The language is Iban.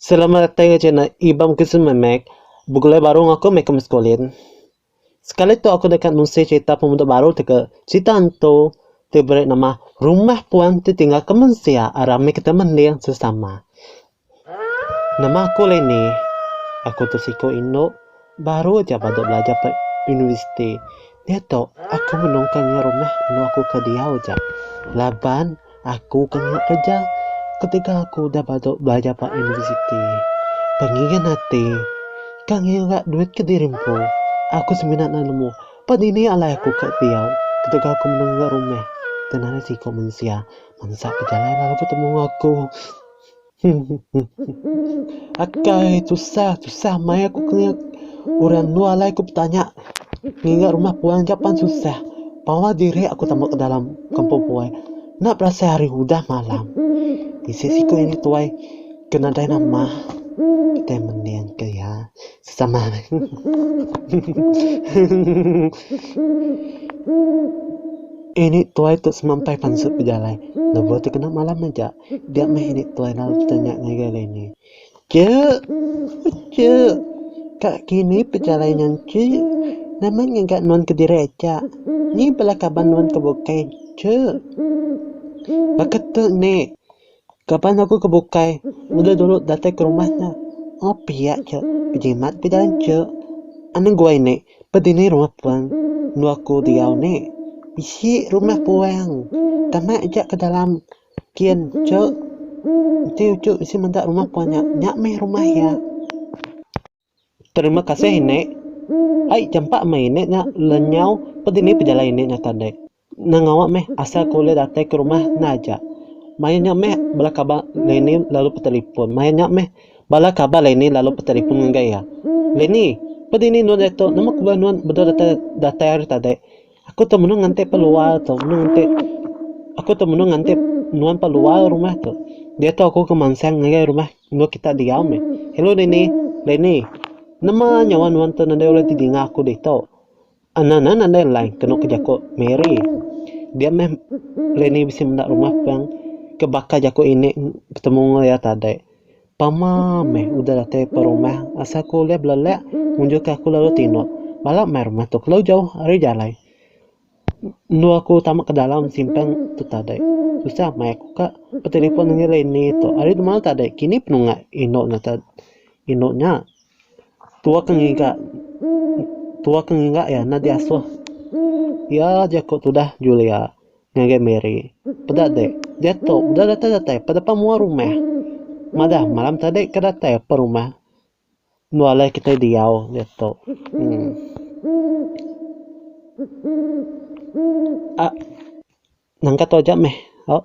Selamat datai enggau channel Ibam Kusuma Mac. Begulai baru enggau aku meh aku meskulin. Sekali tu aku deka nunsi cerita pemuda baru ti ke cerita entu ti beri nama Rumah Puan ti Tinggal ke Mensia Arang mih kita mending sesama. Nama aku Leni. Aku tu siku indu baru aja badu belajar ba universiti. Diatu aku menungka ngingat rumah anu aku ke diau aja laban. Aku ke ngena kereja ketegal aku udah badu belajar ba universiti. Pengigan ati, ke ngiu ga duit ke diri empu. Aku semina enda nemu ba dini alai aku ke diau ketegal aku mendung enggau rumah. Tang nadai siku mensia mansa bejalai lalu betemu enggau aku. Huhuhuhuh. Akai tusah tusah maya ku kelinga orang endur alai ku betanya ngiga rumah puan ga pan tusah. Pawa diri aku temu ke dalam kampung puai. Enda berasai hari udah malam. Bisi siku anak tuai ke nadai nama kitai mening ke iya sesama meh. Huhuhuhuh. Ini tuai tu semampai pansut bejalai lebuh ti kena malam aja. Ga meh ini tuai lalte nya ngagai Leni. Che! Che! Ka kini pejalai nya enti nama nyaga nuan kediri aja. Ni bala kaban nuan ke bukai. Che! Baka tu ni. Kaban aku ke bukai udah dulu datai ke rumah nya. Oh pia che. Bejimat ke jalan che. Anu gua ini pa dini rumah puang enda aku diau ni. Bisi rumah puang. Tama aja ke dalam. Kin, cu. Enti uchu bisi meda rumah puan nya, nya mih rumah iya. Terima kasih inde. Ai jampa meh inde nya lenyau pedini pejalai inde nya tadi. Nengawa meh asal ku ulih datai ke rumah enda aja. Maya nya meh bala kaban Leini lalu betelefon. Maya nya meh bala kaban Leini lalu betelefon ngagai iya. Leini, pedini nuan diatu? Nama ku bala nuan bedau datai datai hari tadi? Aku tu menu ngantik peluar tu menu ngantik aku tu menu ngantik nuan peluar rumah tu. Dia tu aku ke mansang ngagai rumah enggau kita diau meh. Hello Dini. Dini. Nama nyawa nuan tu nadai ulih didinga aku ditu. Ana na nadai line kenu ke jaku Mary. Dia meh Dini bisi menda rumah pang ke baka jaku ini betemu enggau iya tadi. Pama meh udah datai ba rumah asal ku ulih belelak ngunjukka aku lalu tinu. Bala mai rumah tu kelu jauh ari jalai. Endur aku tama ke dalam simpang tu tadai. Tusah meh aku ka betelefon nengeri Leni tu ari dema tadai kini penunga indu nya ta indu nya. Tua ke ngiga tua ke ngiga iya enda diasuh. Iya aja ku tudah Julia. Ngagai Mary. Peda dek. Diatu udah datai-datai pa depan mua rumah. Madah malam tadi ke datai apan rumah. Endo alai kitai diau diatu. Uhh. Ahh. Nangka tu aja meh. Ohh.